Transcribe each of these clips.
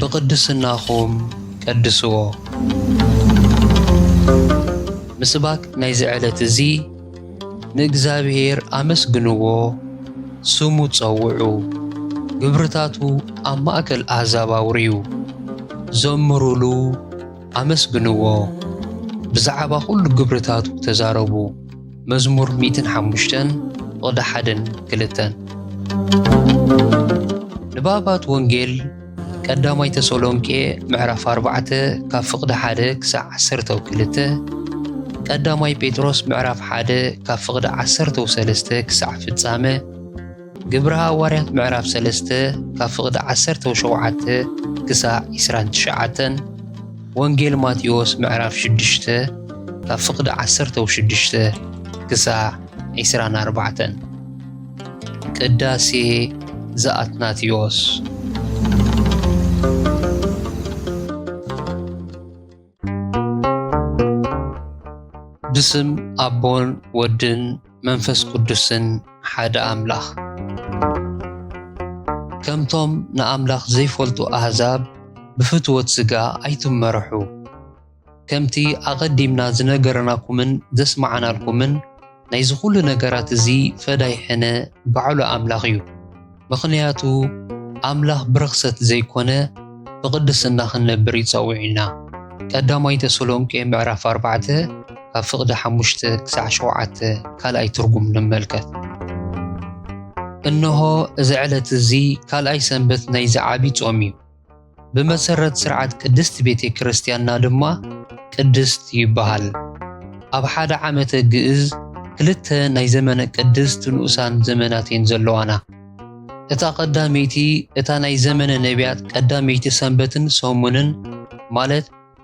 ብቕድስናኹም ቀድስዎ። ምስባክ ናይዚ ዕለት እዚ ንእግዚኣብሔር ኣመስግንዎ፣ ስሙ ጸውዑ፣ ግብርታቱ ኣብ ማእከል ኣሕዛብ ኣውርዩ፣ ዘምሩሉ፣ ኣመስግንዎ፣ ብዛዕባ ዅሉ ግብርታቱ ተዛረቡ። መዝሙር ሚእትን ሓሙሽተን ፍቕዲ ሓደን ክልተን። ንባባት ወንጌል ቀዳማይ ተሰሎንቄ ምዕራፍ ኣርባዕተ ካብ ፍቕዲ ሓደ ክሳዕ ዓሰርተው ክልተ፣ ቀዳማይ ጴጥሮስ ምዕራፍ ሓደ ካብ ፍቕዲ ዓሰርተው ሰለስተ ክሳዕ ፍጻመ፣ ግብሪ ሃዋርያት ምዕራፍ ሰለስተ ካብ ፍቕዲ ዓሰርተው ሸውዓተ ክሳዕ ዒስራን ትሽዓተን ወንጌል ማቴዎስ ምዕራፍ ሽዱሽተ ካብ ፍቕዲ ዓሰርተው ሽዱሽተ ክሳዕ ዒስራን ኣርባዕተን ቅዳሴ ዘኣትናቴዎስ ብስም ኣቦን ወድን መንፈስ ቅዱስን ሓደ ኣምላኽ ከምቶም ንኣምላኽ ዘይፈልጡ ኣህዛብ ብፍትወት ሥጋ ኣይትመርሑ ከምቲ ኣቐዲምና ዝነገርናኩምን ዘስማዕናልኩምን ናይዚ ኩሉ ነገራት እዚ ፈዳይ ሕነ ባዕሉ ኣምላኽ እዩ። ምኽንያቱ ኣምላኽ ብርኽሰት ዘይኮነ ብቕድስና ክንነብር ይጸውዒና። ቀዳማይ ተሰሎንቄ ምዕራፍ ኣርባዕተ ካብ ፍቕዲ ሓሙሽተ ክሳዕ ሸውዓተ ካልኣይ ትርጉም ንመልከት። እንሆ እዚ ዕለት እዚ ካልኣይ ሰንበት ናይዚ ዓቢ ጾም እዩ። ብመሰረት ስርዓት ቅድስት ቤተ ክርስቲያንና ድማ ቅድስት ይበሃል። ኣብ ሓደ ዓመተ ግእዝ ክልተ ናይ ዘመነ ቅድስት ንኡሳን ዘመናት እየን ዘለዋና። እታ ቀዳመይቲ እታ ናይ ዘመነ ነቢያት ቀዳመይቲ ሰንበትን ሰሙንን ማለት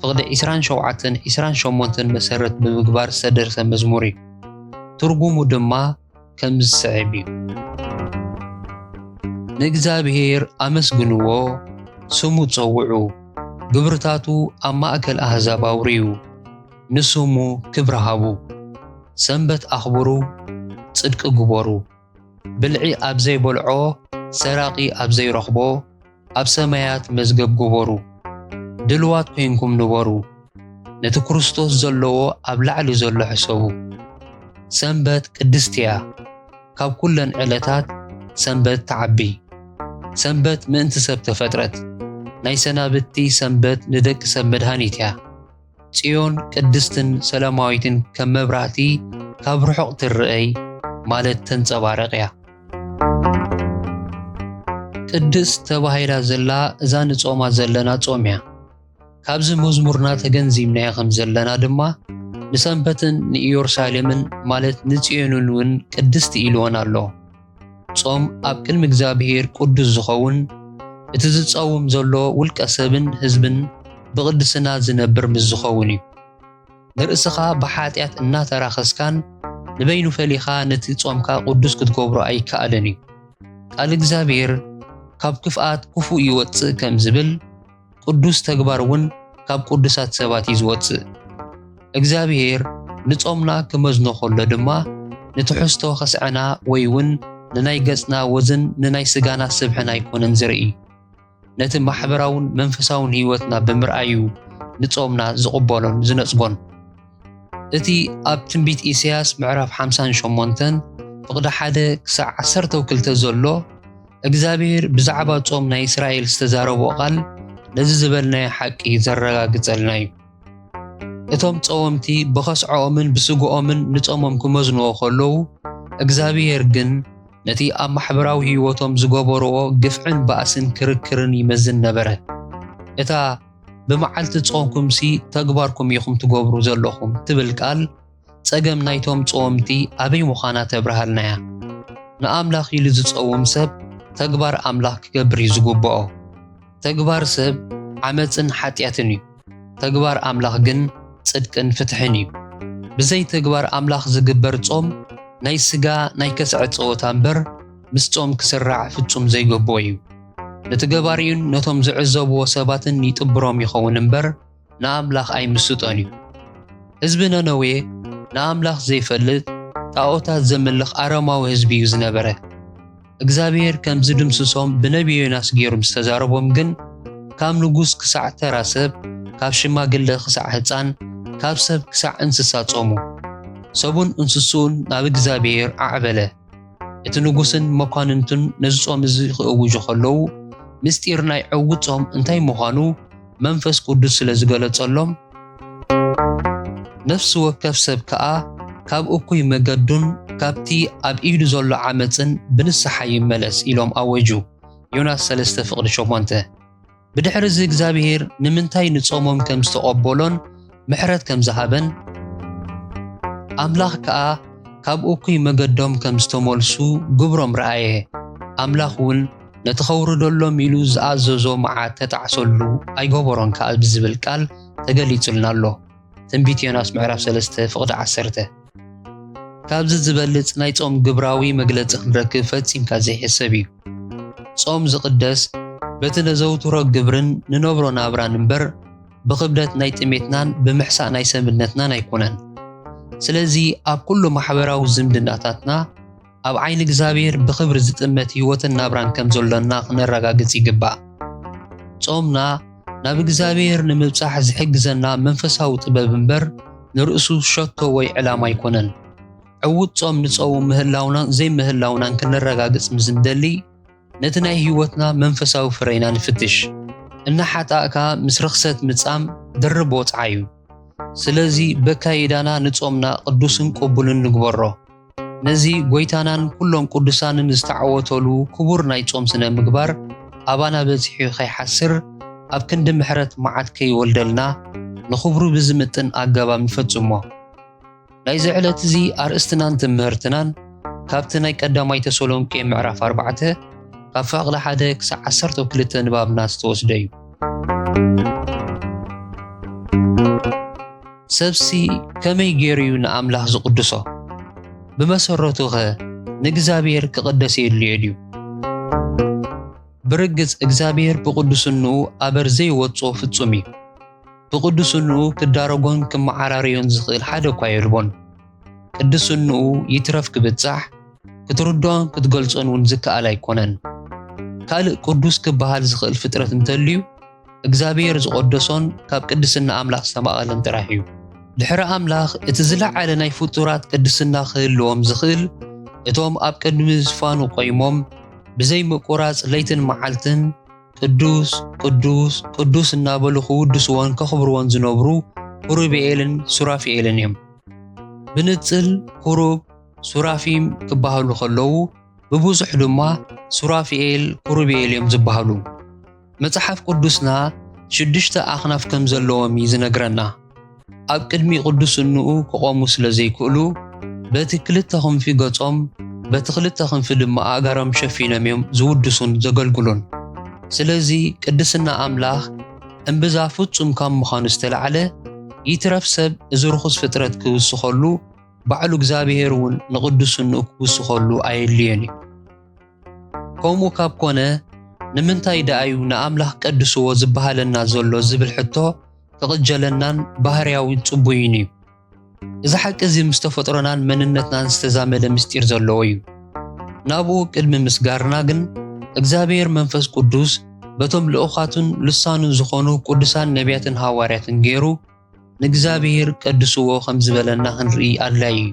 ፍቕዲ ዒስራን ሸውዓተን ዒስራን ሸሞንተን መሰረት ብምግባር ዝተደርሰ መዝሙር እዩ። ትርጉሙ ድማ ከም ዝስዕብ እዩ። ንእግዚኣብሔር ኣመስግንዎ፣ ስሙ ጸውዑ፣ ግብርታቱ ኣብ ማእከል ኣህዛብ ኣውርዩ፣ ንስሙ ክብሪ ሃቡ። ሰንበት ኣኽብሩ፣ ጽድቂ ግበሩ። ብልዒ ኣብ ዘይበልዖ ሰራቂ ኣብ ዘይረኽቦ ኣብ ሰማያት መዝገብ ግበሩ። ድልዋት ኮይንኩም ንበሩ፣ ነቲ ክርስቶስ ዘለዎ ኣብ ላዕሊ ዘሎ ሕሰቡ። ሰንበት ቅድስቲ እያ፣ ካብ ኩለን ዕለታት ሰንበት ትዓቢ። ሰንበት ምእንቲ ሰብ ተፈጥረት፣ ናይ ሰናብቲ ሰንበት ንደቂ ሰብ መድሃኒት እያ። ጽዮን ቅድስትን ሰላማዊትን ከም መብራህቲ ካብ ርሑቕ ትርአይ ማለት ተንጸባረቕ እያ። ቅድስት ተባሂላ ዘላ እዛ ንጾማ ዘለና ጾም እያ። ካብዚ መዝሙርና ተገንዚብናዮ ከም ዘለና ድማ ንሰንበትን ንኢየሩሳሌምን ማለት ንጽዮንን እውን ቅድስቲ ኢልወን ኣሎ። ጾም ኣብ ቅድሚ እግዚኣብሔር ቅዱስ ዝኸውን እቲ ዝጸውም ዘሎ ውልቀ ሰብን ህዝብን ብቕድስና ዝነብር ምስ ዝኸውን እዩ። ንርእስኻ ብሓጢኣት እናተራኸስካን ንበይኑ ፈሊኻ ነቲ ጾምካ ቅዱስ ክትገብሮ ኣይከኣልን እዩ። ቃል እግዚኣብሔር ካብ ክፍኣት ክፉእ ይወጽእ ከም ዝብል ቅዱስ ተግባር እውን ካብ ቅዱሳት ሰባት እዩ ዝወጽእ። እግዚኣብሄር ንጾምና ክመዝኖ ከሎ ድማ ንትሕዝቶ ከስዐና ወይ እውን ንናይ ገጽና ወዝን ንናይ ስጋና ስብሕን ኣይኮነን ዝርኢ። ነቲ ማሕበራውን መንፈሳውን ህይወትና ብምርኣይ እዩ ንጾምና ዝቕበሎን ዝነጽጎን። እቲ ኣብ ትንቢት ኢሳይያስ ምዕራፍ ሓምሳን ሸሞንተን ፍቕዲ ሓደ ክሳዕ ዓሰርተው ክልተ ዘሎ፣ እግዚኣብሔር ብዛዕባ ጾም ናይ እስራኤል ዝተዛረቦ ቃል ነዚ ዝበልናዮ ሓቂ ዘረጋግጸልና እዩ። እቶም ጸወምቲ ብኸስዐኦምን ብስግኦምን ንጾሞም ክመዝንዎ ከለዉ፣ እግዚኣብሔር ግን ነቲ ኣብ ማሕበራዊ ህይወቶም ዝገበርዎ ግፍዕን ባእስን ክርክርን ይመዝን ነበረ። እታ ብመዓልቲ ጾምኩምሲ ተግባርኩም ኢኹም ትገብሩ ዘለኹም ትብል ቃል ጸገም ናይቶም ጸወምቲ ኣበይ ምዃና ተብርሃልና እያ። ንኣምላኽ ኢሉ ዝጸውም ሰብ ተግባር ኣምላኽ ክገብር እዩ ዝግብኦ። ተግባር ሰብ ዓመጽን ሓጢኣትን እዩ፣ ተግባር ኣምላኽ ግን ጽድቅን ፍትሕን እዩ። ብዘይ ተግባር ኣምላኽ ዝግበር ጾም ናይ ስጋ ናይ ከስዐ ጸወታ እምበር ምስ ጾም ክስራዕ ፍጹም ዘይግብኦ እዩ። ንትገባሪኡን ነቶም ዝዕዘብዎ ሰባትን ይጥብሮም ይኸውን እምበር፣ ንኣምላኽ ኣይምስጦን እዩ። ህዝቢ ነነዌ ንኣምላኽ ዘይፈልጥ ጣኦታት ዘምልኽ ኣረማዊ ህዝቢ እዩ ዝነበረ። እግዚኣብሄር ከም ዝድምስሶም ብነብዪ ዮናስ ገይሩ ምስ ተዛረቦም ግን ካብ ንጉስ ክሳዕ ተራ ሰብ፣ ካብ ሽማግለ ክሳዕ ህጻን፣ ካብ ሰብ ክሳዕ እንስሳ ጾሙ። ሰቡን እንስስኡን ናብ እግዚኣብሄር ኣዕበለ። እቲ ንጉስን መኳንንቱን ነዚ ጾም እዚ ክእውጁ ከለዉ ምስጢር ናይ ዕውት ጾም እንታይ ምዃኑ መንፈስ ቅዱስ ስለ ዝገለጸሎም ነፍሲ ወከፍ ሰብ ከኣ ካብ እኩይ መገዱን ካብቲ ኣብ ኢዱ ዘሎ ዓመፅን ብንስሓ ይመለስ ኢሎም ኣወጁ። ዮናስ 3 ፍቅዲ 8 ብድሕሪ እዚ እግዚኣብሄር ንምንታይ ንጾሞም ከም ዝተቐበሎን ምሕረት ከም ዝሃበን ኣምላኽ ከኣ ካብ እኩይ መገዶም ከም ዝተመልሱ ግብሮም ረኣየ። ኣምላኽ እውን ነቲ ከውርደሎም ኢሉ ዝኣዘዞ መዓት ተጣዕሰሉ ኣይገበሮን ከኣ ብዝብል ቃል ተገሊጹልና ኣሎ። ትንቢት ዮናስ ምዕራፍ 3 ፍቕዲ 10 ካብዚ ዝበልጽ ናይ ጾም ግብራዊ መግለጺ ክንረክብ ፈጺምካ ዘይሕሰብ እዩ። ጾም ዝቕደስ በቲ ነዘውትሮ ግብርን ንነብሮ ናብራን እምበር ብኽብደት ናይ ጥሜትናን ብምሕሳእ ናይ ሰብነትናን ኣይኮነን። ስለዚ ኣብ ኩሉ ማሕበራዊ ዝምድናታትና ኣብ ዓይኒ እግዚኣብሔር ብኽብሪ ዝጥመት ሕይወትን ናብራን ከም ዘሎና ክነረጋግጽ ይግባእ። ጾምና ናብ እግዚኣብሔር ንምብጻሕ ዝሕግዘና መንፈሳዊ ጥበብ እምበር ንርእሱ ሸቶ ወይ ዕላማ ኣይኮነን። ዕዉት ጾም ንጸውም ምህላውናን ዘይምህላውናን ክንረጋግጽ ምስ እንደሊ፣ ነቲ ናይ ህይወትና መንፈሳዊ ፍረ ኢና ንፍትሽ። እናሓጣእካ ምስ ርኽሰት ምጻም ድርብ ወጽዓ እዩ። ስለዚ በካይዳና ንጾምና ቅዱስን ቅቡልን ንግበሮ። ነዚ ጎይታናን ኩሎም ቅዱሳንን ዝተዓወተሉ ክቡር ናይ ጾም ስነ ምግባር ኣባና በጺሑ ከይሓስር ኣብ ክንዲ ምሕረት መዓት ከይወልደልና ንኽብሩ ብዝምጥን ኣገባብ ንፈጽሞ። ናይዚ ዕለት እዚ ኣርእስትናን ትምህርትናን ካብቲ ናይ ቀዳማይ ተሰሎንቄ ምዕራፍ ኣርባዕተ ካብ ፋቕሊ ሓደ ክሳዕ ዓሰርተ ክልተ ንባብና ዝተወስደ እዩ ሰብሲ ከመይ ገይሩ እዩ ንኣምላኽ ዝቕድሶ ብመሰረቱ ኸ ንእግዚኣብሔር ክቕደስ የድልዮ ድዩ ብርግጽ እግዚኣብሔር ብቕዱስንኡ ኣበር ዘይወጾ ፍጹም እዩ ብቅዱስንኡ ክዳረጎን ክመዓራርዮን ዝኽእል ሓደ እኳ የልቦን። ቅዱስንኡ ይትረፍ ክብጻሕ ክትርድኦን ክትገልጾን እውን ዝከኣል ኣይኮነን። ካልእ ቅዱስ ክበሃል ዝኽእል ፍጥረት እንተልዩ እግዚኣብሔር ዝቐደሶን ካብ ቅድስና ኣምላኽ ዝተማቐለን ጥራሕ እዩ። ድሕሪ ኣምላኽ እቲ ዝለዓለ ናይ ፍጡራት ቅድስና ክህልዎም ዝኽእል እቶም ኣብ ቅድሚ ዝፋኑ ቆይሞም ብዘይ ምቁራጽ ለይትን መዓልትን ቅዱስ ቅዱስ ቅዱስ እናበሉ ክውድስዎን ከኽብርዎን ዝነብሩ ኡሩብኤልን ሱራፊኤልን እዮም። ብንጽል ኩሩብ ሱራፊም ክበሃሉ ከለዉ ብብዙሕ ድማ ሱራፊኤል ኩሩብኤል እዮም ዝበሃሉ። መጽሓፍ ቅዱስና ሽዱሽተ ኣኽናፍ ከም ዘለዎም እዩ ዝነግረና። ኣብ ቅድሚ ቅዱስንኡ ክቖሙ ስለ ዘይክእሉ በቲ ክልተ ክንፊ ገጾም በቲ ክልተ ክንፊ ድማ ኣእጋሮም ሸፊኖም እዮም ዝውድሱን ዘገልግሉን። ስለዚ ቅድስና ኣምላኽ እምብዛ ፍጹም ካብ ምዃኑ ዝተላዕለ ይትረፍ ሰብ እዚ ርኹስ ፍጥረት ክውስኸሉ ባዕሉ እግዚኣብሔር እውን ንቅዱስንኡ ክውስኸሉ ኣየድልዮን እዩ። ከምኡ ካብ ኮነ ንምንታይ ደኣዩ ንኣምላኽ ቀድስዎ ዝበሃለና ዘሎ ዝብል ሕቶ ክቕጀለናን ባህርያዊ ጽቡይን እዩ። እዚ ሓቂ እዚ ምስ ተፈጥሮናን መንነትናን ዝተዛመደ ምስጢር ዘለዎ እዩ። ናብኡ ቅድሚ ምስጋርና ግን እግዚኣብሔር መንፈስ ቅዱስ በቶም ልኡኻቱን ልሳኑን ዝኾኑ ቅዱሳን ነቢያትን ሃዋርያትን ገይሩ ንእግዚኣብሔር ቀድስዎ ከም ዝበለና ክንርኢ ኣድላዪ እዩ።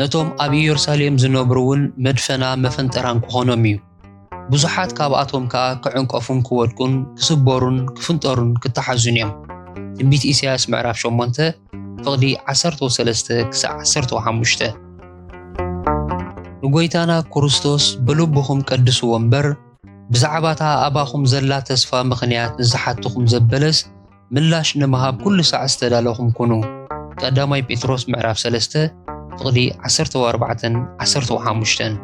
ነቶም ኣብ ኢየሩሳሌም ዝነብሩውን መድፈና መፈንጠራን ክኾኖም እዩ። ብዙሓት ካብኣቶም ከኣ ክዕንቀፉን ክወድቁን ክስበሩን ክፍንጠሩን ክተሓዙን እዮም። ትንቢት ኢሳያስ ምዕራፍ 8 ፍቕዲ 13-15 ንጐይታና ክርስቶስ ብልብኹም ቀድስዎ እምበር፣ ብዛዕባታ ኣባኹም ዘላ ተስፋ ምኽንያት ንዝሓትኹም ዘበለስ፣ ምላሽ ንምሃብ ኩሉ ሳዕ ዝተዳለኹም ኩኑ። ቀዳማይ ጴጥሮስ ምዕራፍ ሰለስተ ፍቕዲ ዓሰርተው ኣርባዕተን ዓሰርተው ሓሙሽተን።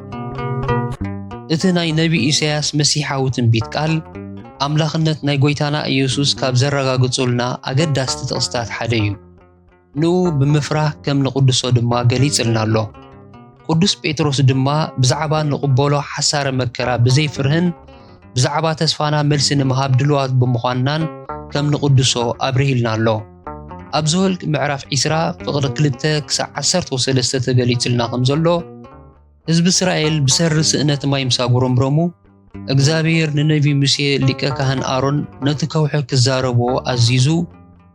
እቲ ናይ ነቢ ኢሳያስ መሲሓዊ ትንቢት ቃል፣ ኣምላኽነት ናይ ጎይታና ኢየሱስ ካብ ዘረጋግጹልና ኣገዳስቲ ጥቕስታት ሓደ እዩ። ንኡ ብምፍራህ ከም ንቕድሶ ድማ ገሊጽልና ኣሎ። ቅዱስ ጴጥሮስ ድማ ብዛዕባ ንቕበሎ ሓሳረ መከራ ብዘይ ፍርህን ብዛዕባ ተስፋና መልሲ ንምሃብ ድልዋት ብምዃንናን ከም ንቕድሶ ኣብርሂልና ኣሎ። ኣብ ዘወልቅ ምዕራፍ ዒስራ ፍቕሪ ክልተ ክሳዕ ዓሰርተው ሰለስተ ተገሊጽልና ከም ዘሎ፣ ህዝቢ እስራኤል ብሰሪ ስእነት ማይ ምስ ኣጉረምረሙ፣ እግዚኣብሄር ንነቢ ሙሴ ሊቀ ካህን ኣሮን ነቲ ከውሒ ክዛረቦ ኣዚዙ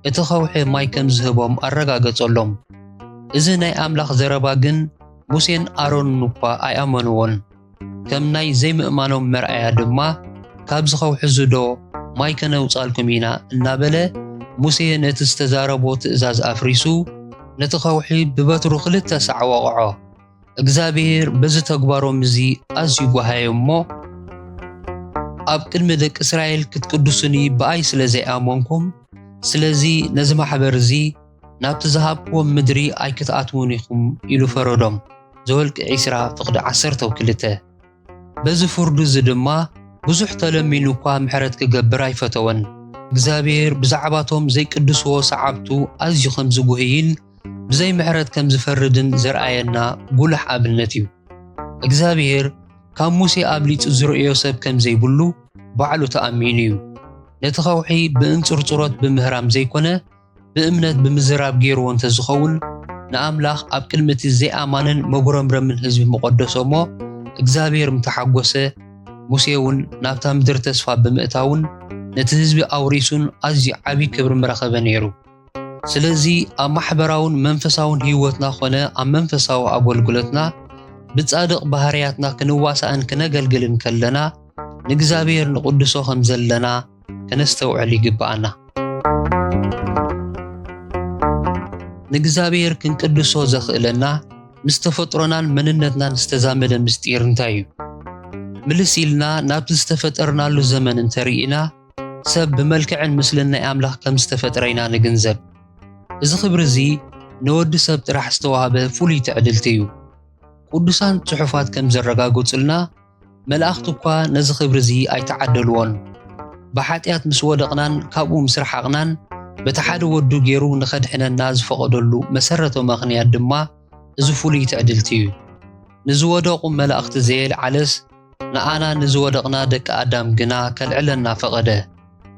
እቲ ከውሒ ማይ ከም ዝህቦም ኣረጋገጸሎም። እዚ ናይ ኣምላኽ ዘረባ ግን ሙሴን ኣሮንን እኳ ኣይኣመንዎን። ከም ናይ ዘይምእማኖም መርኣያ ድማ ካብዚ ከውሒ'ዚዶ ማይ ከነውጻልኩም ኢና እናበለ ሙሴ ነቲ ዝተዛረቦ ትእዛዝ ኣፍሪሱ ነቲ ከውሒ ብበትሩ ክልተ ሳዕ ወቕዖ። እግዚኣብሄር በዚ ተግባሮም እዚ ኣዝዩ ጓሃዮም እሞ፣ ኣብ ቅድሚ ደቂ እስራኤል ክትቅድሱኒ ብኣይ ስለ ዘይኣመንኩም፣ ስለዚ ነዚ ማሕበር እዚ ናብቲ ዝሃብክዎም ምድሪ ኣይክትኣትዉን ኢኹም ኢሉ ፈረዶም። ዘወልቂ ዕስራ ፍቕዲ ዓሰርተው ክልተ። በዚ ፍርዱ እዚ ድማ ብዙሕ ተለሚኑ እኳ ምሕረት ክገብር ኣይፈተወን። እግዚኣብሔር ብዛዕባቶም ዘይቅድስዎ ሰዓብቱ ኣዝዩ ከም ዝጉህይን ብዘይ ምሕረት ከም ዝፈርድን ዘርኣየና ጉሉሕ ኣብነት እዩ። እግዚኣብሔር ካብ ሙሴ ኣብሊጹ ዝርእዮ ሰብ ከም ዘይብሉ ባዕሉ ተኣሚኑ እዩ። ነቲ ከውሒ ብእንጽርጽሮት ብምህራም ዘይኮነ ብእምነት ብምዝራብ ገይርዎ እንተ ዝኸውን፣ ንኣምላኽ ኣብ ቅድሚ እቲ ዘይኣማንን መጉረምረምን ህዝቢ ምቐደሶ እሞ፣ እግዚኣብሄር ምተሓጐሰ፣ ሙሴውን ናብታ ምድሪ ተስፋ ብምእታውን ነቲ ህዝቢ ኣውሪሱን ኣዝዩ ዓብዪ ክብሪ ምረኸበ ነይሩ። ስለዚ ኣብ ማሕበራውን መንፈሳውን ህይወትና ዀነ ኣብ መንፈሳዊ ኣገልግሎትና ብጻድቕ ባህርያትና ክንዋሳእን ክነገልግልን ከለና ንእግዚኣብሄር ንቕድሶ ኸም ዘለና ከነስተውዕል ይግብኣና። ንእግዚኣብሔር ክንቅድሶ ዘኽእለና ምስ ተፈጥሮናን መንነትናን ዝተዛመደ ምስጢር እንታይ እዩ? ምልስ ኢልና ናብቲ ዝተፈጠርናሉ ዘመን እንተርኢና ሰብ ብመልክዕን ምስልን ናይ ኣምላኽ ከም ዝተፈጥረ ኢና ንግንዘብ። እዚ ክብሪ እዚ ንወዲ ሰብ ጥራሕ ዝተዋህበ ፍሉይ ትዕድልቲ እዩ። ቅዱሳን ጽሑፋት ከም ዘረጋግጹልና መላእኽቲ እኳ ነዚ ክብሪ እዚ ኣይተዓደልዎን። ብሓጢኣት ምስ ወደቕናን ካብኡ ምስ ረሓቕናን በቲ ሓደ ወዱ ገይሩ ንኸድሕነና ዝፈቐደሉ መሰረታዊ ምኽንያት ድማ እዚ ፍሉይ ትዕድልቲ እዩ። ንዝወደቑ መላእኽቲ ዘየልዓለስ ንኣና ንዝወደቕና ደቂ ኣዳም ግና ከልዕለና ፈቐደ።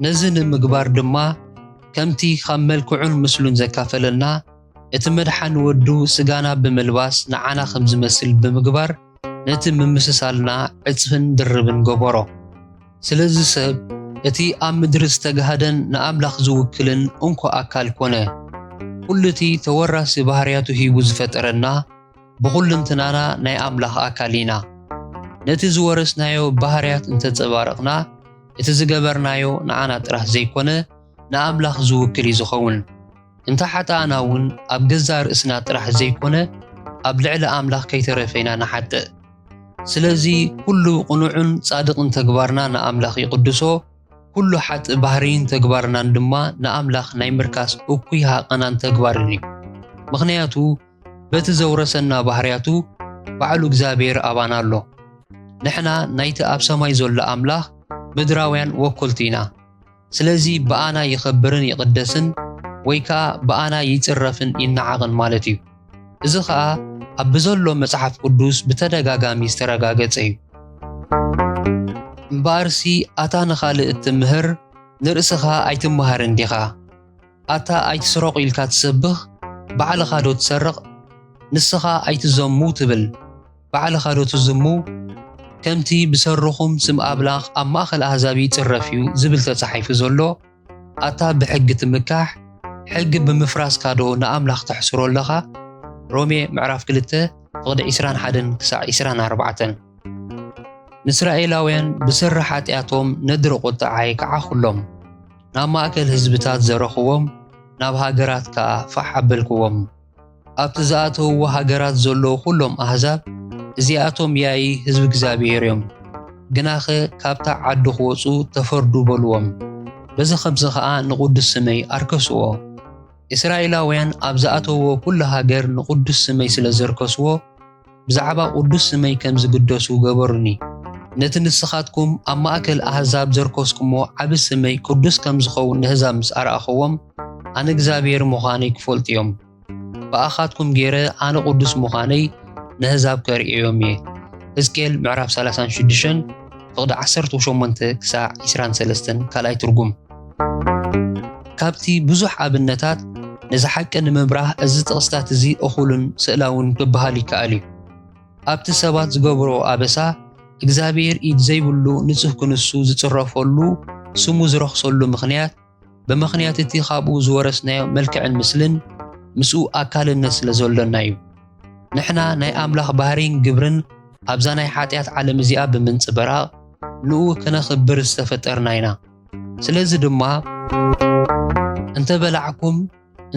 ነዚ ንምግባር ድማ ከምቲ ካብ መልክዑን ምስሉን ዘካፈለና፣ እቲ መድሓን ወዱ ስጋና ብምልባስ ንዓና ከም ዝመስል ብምግባር ነቲ ምምስሳልና ዕጽፍን ድርብን ገበሮ። ስለዚ ሰብ እቲ ኣብ ምድሪ ዝተጋህደን ንኣምላኽ ዝውክልን እንኮ ኣካል ኮነ። ኩሉ እቲ ተወራሲ ባህርያቱ ሂቡ ዝፈጠረና ብኹልንትናና ናይ ኣምላኽ ኣካል ኢና። ነቲ ዝወረስናዮ ባህርያት እንተጸባረቕና እቲ ዝገበርናዮ ንዓና ጥራህ ዘይኮነ ንኣምላኽ ዝውክል እዩ ዝኸውን። እንተ ሓጣእና እውን ኣብ ገዛእ ርእስና ጥራሕ ዘይኮነ ኣብ ልዕሊ ኣምላኽ ከይተረፈ ኢና ንሓጥእ። ስለዚ ኩሉ ቕኑዕን ጻድቕን ተግባርና ንኣምላኽ ይቕድሶ፣ ኩሉ ሓጥእ ባህርይን ተግባርናን ድማ ንኣምላኽ ናይ ምርካስ እኩይ ሃቐናን ተግባርን እዩ። ምኽንያቱ በቲ ዘውረሰና ባህርያቱ ባዕሉ እግዚኣብሔር ኣባና ኣሎ። ንሕና ናይቲ ኣብ ሰማይ ዘሎ ኣምላኽ ምድራውያን ወኮልቲ ኢና። ስለዚ ብኣና ይኸብርን ይቕደስን ወይ ከኣ ብኣና ይጽረፍን ይነዓቕን ማለት እዩ። እዚ ኸኣ ኣብ ብዘሎ መጽሓፍ ቅዱስ ብተደጋጋሚ ዝተረጋገጸ እዩ። እምበኣርሲ ኣታ ንኻልእ እትምህር ንርእስኻ ኣይትመሃርን ዲኻ? ኣታ ኣይትስረቑ ኢልካ ትሰብኽ ባዕልኻዶ ትሰርቕ? ንስኻ ኣይትዘሙ ትብል? ባዕልኻ ዶ ትዝሙ? ከምቲ ብሰሩኹም ስም ኣብላኽ ኣብ ማእኸል ኣህዛብ ይጽረፍ እዩ ዝብል ተጻሒፉ ዘሎ፣ ኣታ ብሕጊ ትምካሕ፣ ሕጊ ብምፍራስካ ዶ ንኣምላኽ ተሕስሮ ኣለኻ? ሮሜ ምዕራፍ ክልተ ፍቕዲ ዕስራን ሓደን ክሳዕ ዕስራን ኣርባዕተን። ንእስራኤላውያን ብሰሪ ሓጢኣቶም ነድሪ ቁጥዓይ ከዓኹሎም፣ ናብ ማእከል ህዝብታት ዘረኹዎም፣ ናብ ሃገራት ከኣ ፋሕ ኣበልኩዎም። ኣብቲ ዝኣተውዎ ሃገራት ዘለዉ ዅሎም ኣህዛብ እዚኣቶም ያኢ ህዝቢ እግዚኣብሄር እዮም፣ ግናኸ ካብታ ዓዲ ኽወጹ ተፈርዱ በልዎም፣ በዚ ኸምዚ ኸኣ ንቕዱስ ስመይ ኣርከስዎ። እስራኤላውያን ኣብ ዝኣተውዎ ዅሉ ሃገር ንቕዱስ ስመይ ስለ ዘርከስዎ፣ ብዛዕባ ቕዱስ ስመይ ከም ዝግደሱ ገበሩኒ። ነቲ ንስኻትኩም ኣብ ማእከል ኣህዛብ ዘርከስኩሞ ዓቢ ስመይ ቅዱስ ከም ዝኸውን ነህዛብ ምስ ኣርኣኽዎም፣ ኣነ እግዚኣብሄር ምዃነይ ክፈልጡ እዮም። ብኣኻትኩም ገይረ ኣነ ቅዱስ ምዃነይ ነህዛብ ከርእዮም እየ። ህዝቅኤል ምዕራፍ ሰላሳን ሽዱሽተን ፍቕዲ ዓሰርተው ሸሞንተ ክሳዕ ዕስራን ሰለስተን ካልኣይ ትርጉም። ካብቲ ብዙሕ ኣብነታት ነዚ ሓቂ ንምብራህ እዚ ጥቕስታት እዚ እኹልን ስእላውን ክበሃል ይከኣል እዩ። ኣብቲ ሰባት ዝገብርኦ ኣበሳ እግዚኣብሔር ኢድ ዘይብሉ ንጹህ ክንሱ ዝጽረፈሉ ስሙ ዝረኽሰሉ ምኽንያት፣ ብምኽንያት እቲ ካብኡ ዝወረስናዮ መልክዕን ምስልን ምስኡ ኣካልነት ስለ ዘሎና እዩ። ንሕና ናይ ኣምላኽ ባህርይን ግብርን ኣብዛ ናይ ሓጢኣት ዓለም እዚኣ ብምንጽብራቕ ንኡ ከነኽብር ዝተፈጠርና ኢና። ስለዚ ድማ እንተ በላዕኩም፣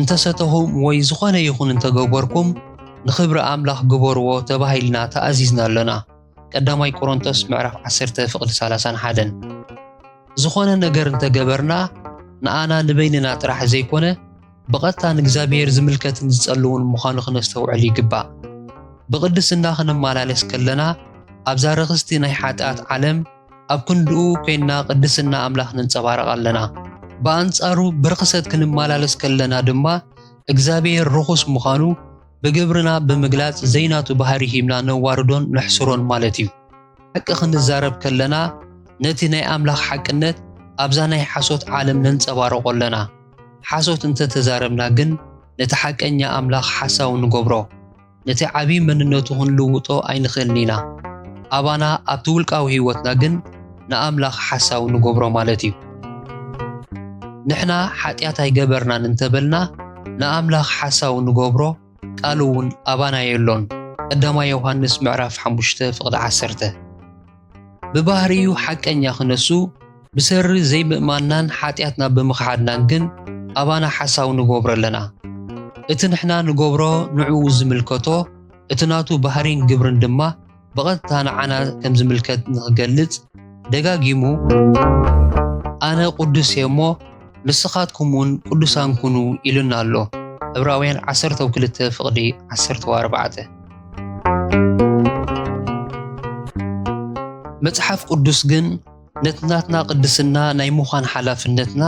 እንተ ሰተኹም ወይ ዝኾነ ይኹን እንተ ገበርኩም ንኽብሪ ኣምላኽ ግበርዎ ተባሂልና ተኣዚዝና ኣሎና። ቀዳማይ ቆሮንቶስ ምዕራፍ ዓሰርተ ፍቕዲ ሰላሳን ሓደን። ዝኾነ ነገር እንተ ገበርና ንኣና ንበይንና ጥራሕ ዘይኮነ ብቐጥታ ንእግዚኣብሔር ዝምልከትን ዝጸልውን ምዃኑ ክነስተውዕል ይግባእ። ብቕድስና ክንመላለስ ከለና ኣብዛ ርኽስቲ ናይ ሓጥኣት ዓለም ኣብ ክንድኡ ኮይንና ቅድስና ኣምላኽ ነንጸባርቕ ኣለና። ብኣንጻሩ ብርኽሰት ክንመላለስ ከለና ድማ እግዚኣብሔር ርኹስ ምዃኑ ብግብርና ብምግላጽ ዘይናቱ ባህሪ ሂብና ነዋርዶን ነሕስሮን ማለት እዩ። ሓቂ ክንዛረብ ከለና ነቲ ናይ ኣምላኽ ሓቅነት ኣብዛ ናይ ሓሶት ዓለም ነንጸባርቖ ኣለና። ሓሶት እንተ ተዛረብና ግን ነቲ ሓቀኛ ኣምላኽ ሓሳዊ ንገብሮ። ነቲ ዓቢ መንነቱ ክንልውጦ ኣይንኽእልን ኢና። ኣባና ኣብቲ ውልቃዊ ህይወትና ግን ንኣምላኽ ሓሳዊ ንገብሮ ማለት እዩ። ንሕና ሓጢኣት ኣይገበርናን እንተ በልና ንኣምላኽ ሓሳዊ ንገብሮ ቃሉ እውን ኣባና የሎን። ቀዳማይ ዮሃንስ ምዕራፍ ሓሙሽተ ፍቕዲ ዓሰርተ። ብባህርዩ ሓቀኛ ክነሱ ብሰሪ ዘይምእማንናን ሓጢኣትና ብምኽሓድናን ግን ኣባና ሓሳዊ ንጎብሮ ኣለና። እቲ ንሕና ንጎብሮ ንዕኡ ዝምልከቶ እቲ ናቱ ባህሪን ግብርን ድማ ብቐጥታ ንዓና ከም ዝምልከት ንክገልጽ ደጋጊሙ ኣነ ቁዱስ እየ እሞ ንስኻትኩም እውን ቅዱሳን ኩኑ ኢሉና ኣሎ ዕብራውያን ዓሰርተው ክልተ ፍቕዲ ዓሰርተው ኣርባዕተ። መጽሓፍ ቅዱስ ግን ነቲ ናትና ቅድስና ናይ ምዃን ሓላፍነትና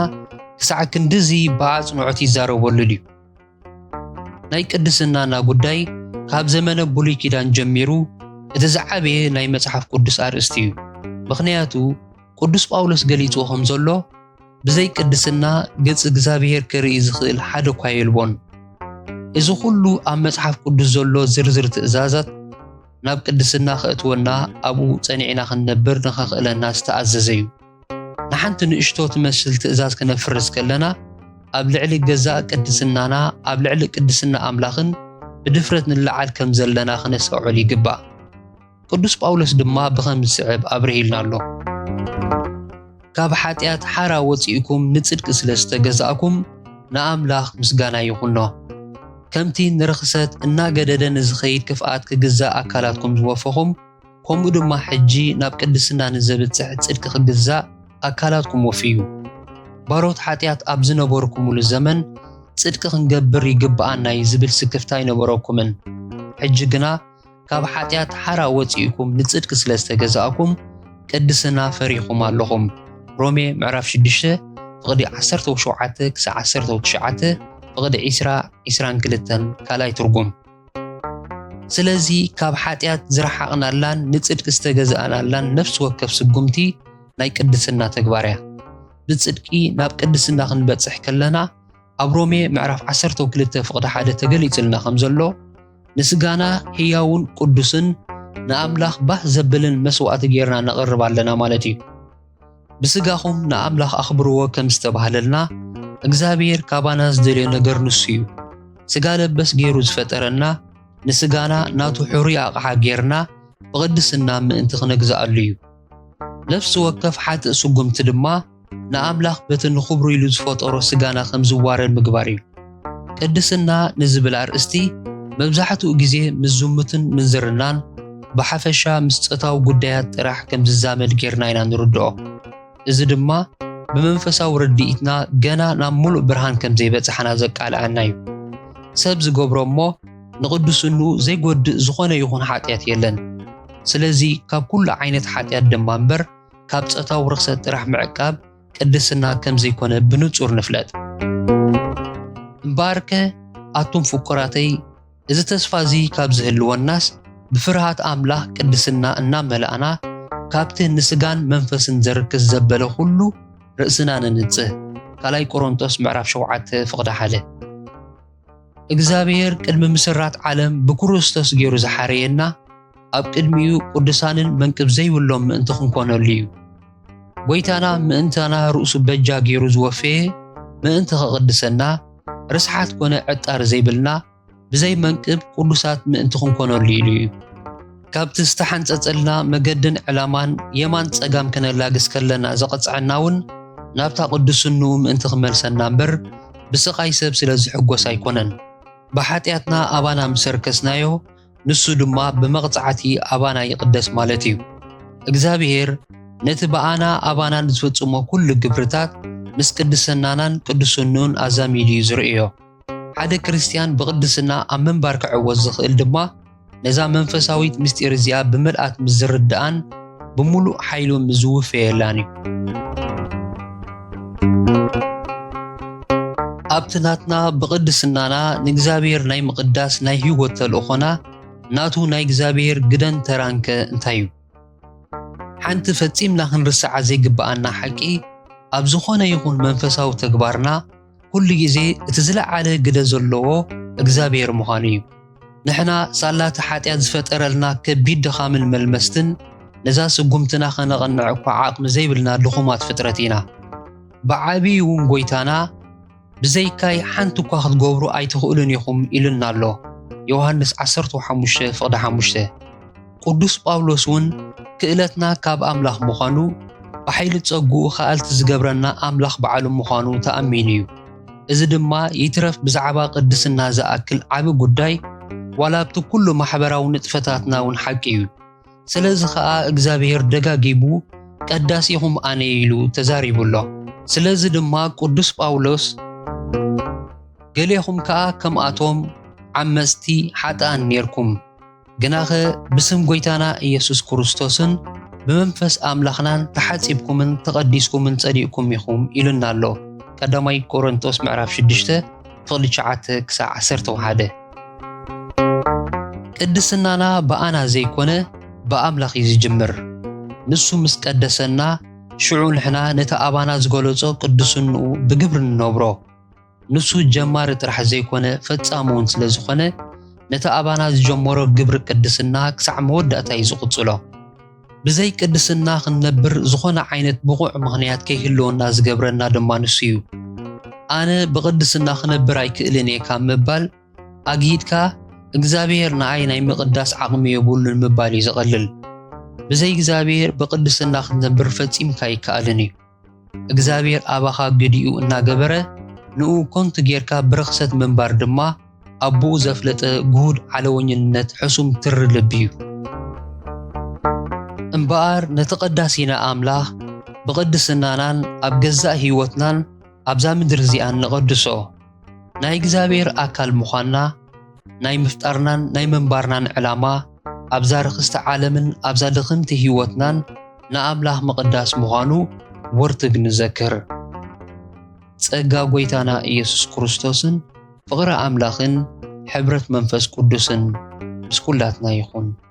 ክሳዕ ክንድዚ ብኣጽንዖት ይዛረበሉ ድዩ? ናይ ቅድስናና ጉዳይ ካብ ዘመነ ብሉይ ኪዳን ጀሚሩ እቲ ዝዓበየ ናይ መጽሓፍ ቅዱስ ኣርእስቲ እዩ። ምኽንያቱ ቅዱስ ጳውሎስ ገሊጹዎ ከም ዘሎ ብዘይ ቅድስና ገጽ እግዚኣብሔር ክርኢ ዝኽእል ሓደ እኳ የልቦን። እዚ ዅሉ ኣብ መጽሓፍ ቅዱስ ዘሎ ዝርዝር ትእዛዛት ናብ ቅድስና ኸእትወና ኣብኡ ጸኒዕና ኽንነብር ንኸኽእለና ዝተኣዘዘ እዩ። ንሓንቲ ንእሽቶ ትመስል ትእዛዝ ክነፍርስ ከለና ኣብ ልዕሊ ገዛእ ቅድስናና ኣብ ልዕሊ ቅድስና ኣምላኽን ብድፍረት ንለዓል ከም ዘለና ክነስተውዕል ይግባእ። ቅዱስ ጳውሎስ ድማ ብኸም ዝስዕብ ኣብርሂልና ኣሎ። ካብ ሓጢኣት ሓራ ወፂእኩም ንጽድቂ ስለ ዝተገዛእኩም ንኣምላኽ ምስጋና ይኹኖ። ከምቲ ንርኽሰት እናገደደ ንዝኸይድ ክፍኣት ክግዛእ ኣካላትኩም ዝወፈኹም ከምኡ ድማ ሕጂ ናብ ቅድስና ንዘብጽሕ ጽድቂ ክግዛእ ኣካላትኩም ወፍዩ። ባሮት ሓጢኣት ኣብ ዝነበርኩምሉ ዘመን ጽድቂ ክንገብር ይግብኣና'ዩ ዝብል ስክፍታ ኣይነበረኩምን። ሕጂ ግና ካብ ሓጢኣት ሓራ ወፂእኩም ንፅድቂ ስለ ዝተገዛእኩም ቅድስና ፈሪኹም ኣለኹም ሮሜ ምዕራፍ 6 ፍቕዲ 17 ክሳብ 19 ፍቕዲ 20 22 ካልኣይ ትርጉም ስለዚ ካብ ሓጢኣት ዝረሓቕናላን ንጽድቂ ዝተገዛእናላን ነፍሲ ወከፍ ስጉምቲ ናይ ቅድስና ተግባር እያ ብጽድቂ ናብ ቅድስና ክንበጽሕ ከለና ኣብ ሮሜ ምዕራፍ ዓሰርተው ክልተ ፍቕዲ ሓደ ተገሊጽልና ከም ዘሎ ንስጋና ህያውን ቅዱስን ንኣምላኽ ባህ ዘብልን መስዋእቲ ጌርና ነቕርብ ኣለና ማለት እዩ ብስጋኹም ንኣምላኽ ኣኽብርዎ ከም ዝተባህለልና እግዚኣብሔር ካባና ዝደልዮ ነገር ንሱ እዩ ስጋ ለበስ ገይሩ ዝፈጠረና ንስጋና ናቱ ሕሩይ ኣቕሓ ጌርና ብቕድስና ምእንቲ ክነግዝኣሉ እዩ ነፍሲ ወከፍ ሓጥእ ስጉምቲ ድማ ንኣምላኽ በቲ ንኽብሩ ኢሉ ዝፈጠሮ ስጋና ከም ዝዋረድ ምግባር እዩ። ቅድስና ንዝብል ኣርእስቲ መብዛሕትኡ ግዜ ምስ ዝሙትን ምንዝርናን ብሓፈሻ ምስ ጾታዊ ጉዳያት ጥራሕ ከም ዝዛመድ ጌርና ኢና ንርድኦ። እዚ ድማ ብመንፈሳዊ ርድኢትና ገና ናብ ምሉእ ብርሃን ከም ዘይበጻሕና ዘቃልዓና እዩ። ሰብ ዝገብሮ እሞ ንቕድስሉ ዘይጎድእ ዝኾነ ይኹን ሓጢኣት የለን። ስለዚ ካብ ኩሉ ዓይነት ሓጢኣት ድማ እምበር ካብ ጸታዊ ርኽሰት ጥራሕ ምዕቃብ ቅድስና ከም ዘይኮነ ብንጹር ንፍለጥ። እምበኣርከ ኣቱም ፍቁራተይ እዚ ተስፋ እዚ ካብ ዝህልወናስ ብፍርሃት ኣምላኽ ቅድስና እናመላእና ካብቲ ንስጋን መንፈስን ዘርክስ ዘበለ ኩሉ ርእስና ነንጽህ። ካልኣይ ቆሮንቶስ ምዕራፍ ሸውዓተ ፍቕዲ ሓደ እግዚኣብሔር ቅድሚ ምስራት ዓለም ብክርስቶስ ገይሩ ዝሓረየና ኣብ ቅድሚኡ ቅዱሳንን መንቅብ ዘይብሎም ምእንቲ ክንኮነሉ እዩ። ጐይታና ምእንታና ርእሱ በጃ ገይሩ ዝወፈየ ምእንቲ ከቕድሰና ርስሓት ኮነ ዕጣር ዘይብልና ብዘይ መንቅብ ቅዱሳት ምእንቲ ክንኮነሉ ኢሉ እዩ። ካብቲ ዝተሓንጸጸልና መገድን ዕላማን የማን ጸጋም ከነላግስ ከለና ዘቐጽዐና እውን ናብታ ቅዱስንኡ ምእንቲ ክመልሰና እምበር ብስቓይ ሰብ ስለ ዝሕጎስ ኣይኮነን። ብሓጢኣትና ኣባና ምስ ኣርከስናዮ ንሱ ድማ ብመቕጻዕቲ ኣባና ይቕደስ ማለት እዩ። እግዚኣብሄር ነቲ ብኣና ኣባና ንዝፍጽሞ ኩሉ ግብርታት ምስ ቅድስናናን ቅዱስንኡን ኣዛሚዱ እዩ ዝርእዮ። ሓደ ክርስትያን ብቕድስና ኣብ ምንባር ክዕወት ዝኽእል ድማ፣ ነዛ መንፈሳዊት ምስጢር እዚኣ ብምልኣት ምስ ዝርድኣን ብምሉእ ሓይሉ ምስ ዝውፈየላን እዩ ኣብቲ ናትና ብቕድስናና ንእግዚኣብሔር ናይ ምቕዳስ ናይ ህይወት ተልእኾና ናቱ ናይ እግዚኣብሔር ግደን ተራንከ እንታይ እዩ ሓንቲ ፈጺምና ክንርስዓ ዘይግብኣና ሓቂ ኣብ ዝኾነ ይኹን መንፈሳዊ ተግባርና ኩሉ ግዜ እቲ ዝለዓለ ግደ ዘለዎ እግዚኣብሔር ምዃኑ እዩ። ንሕና ሳላ እቲ ሓጢኣት ዝፈጠረልና ከቢድ ድኻምን መልመስትን ነዛ ስጉምትና ከነቐንዕ እኳ ዓቕሚ ዘይብልና ድኹማት ፍጥረት ኢና። ብዓብዪ እውን ጎይታና ብዘይካይ ሓንቲ እኳ ክትገብሩ ኣይትኽእሉን ኢኹም ኢሉና ኣሎ። ዮሃንስ ዓሰርተ ሓሙሽተ ፍቕዲ ሓሙሽተ ቅዱስ ጳውሎስ እውን ክእለትና ካብ ኣምላኽ ምዃኑ ብሓይሊ ጸግኡ ኸኣልቲ ዝገብረና ኣምላኽ ባዕሉ ምዃኑ ተኣሚኑ እዩ። እዚ ድማ ይትረፍ ብዛዕባ ቅድስና ዝኣክል ዓቢ ጉዳይ ዋላ ኣብቲ ኩሉ ማሕበራዊ ንጥፈታትና እውን ሓቂ እዩ። ስለዚ ኸኣ እግዚኣብሔር ደጋጊሙ ቀዳሲኹም ኣነ እየ ኢሉ ተዛሪቡ ኣሎ። ስለዚ ድማ ቅዱስ ጳውሎስ ገሌኹም ከኣ ከምኣቶም ዓመጽቲ፣ ሓጥኣን፣ ኔርኩም። ግናኸ ብስም ጐይታና ኢየሱስ ክርስቶስን ብመንፈስ ኣምላኽናን ተሓጺብኩምን ተቐዲስኩምን ጸዲቕኩም ኢኹም ኢሉና ኣሎ። ቀዳማይ ቆሮንቶስ ምዕራፍ 6 ተቕሊ 9 ክሳዕ 11 ቅድስናና ብኣና ዘይኮነ ብኣምላኽ እዩ ዝጅምር። ንሱ ምስ ቀደሰና ሽዑ ንሕና ነቲ ኣባና ዝገለጾ ቅዱስንኡ ብግብሪ ንነብሮ። ንሱ ጀማሪ ጥራሕ ዘይኮነ ፈጻሚ እውን ስለ ዝኾነ ነቲ ኣባና ዝጀመሮ ግብሪ ቅድስና ክሳዕ መወዳእታ እዩ ዝቕጽሎ። ብዘይ ቅድስና ክንነብር ዝኾነ ዓይነት ብቑዕ ምኽንያት ከይህልወና ዝገብረና ድማ ንሱ እዩ። ኣነ ብቕድስና ክነብር ኣይክእልን እየ ካብ ምባል ኣግሂድካ እግዚኣብሔር ንኣይ ናይ ምቕዳስ ዓቕሚ የብሉን ምባል እዩ ዝቐልል። ብዘይ እግዚኣብሔር ብቕድስና ክትነብር ፈጺምካ ኣይከኣልን እዩ። እግዚኣብሔር ኣባኻ ግዲኡ እናገበረ ንኡ ኮንቱ ጌርካ ብርኽሰት ምንባር ድማ ኣቦኡ ዘፍለጠ ግሁድ ዓለወኝነት ሕሱም ትሪ ልቢ እዩ። እምበኣር ነቲ ቀዳሲና ኣምላኽ ብቕድስናናን ኣብ ገዛእ ሕይወትናን ኣብዛ ምድሪ እዚኣን ንቐድሶ። ናይ እግዚኣብሔር ኣካል ምዃንና ናይ ምፍጣርናን ናይ ምንባርናን ዕላማ ኣብዛ ርክስቲ ዓለምን ኣብዛ ድኽምቲ ህይወትናን ንኣምላኽ ምቕዳስ ምዃኑ ወርትግ ንዘክር። ጸጋ ጐይታና ኢየሱስ ክርስቶስን ፍቕሪ ኣምላኽን ሕብረት መንፈስ ቅዱስን ምስ ኵላትና ይኹን።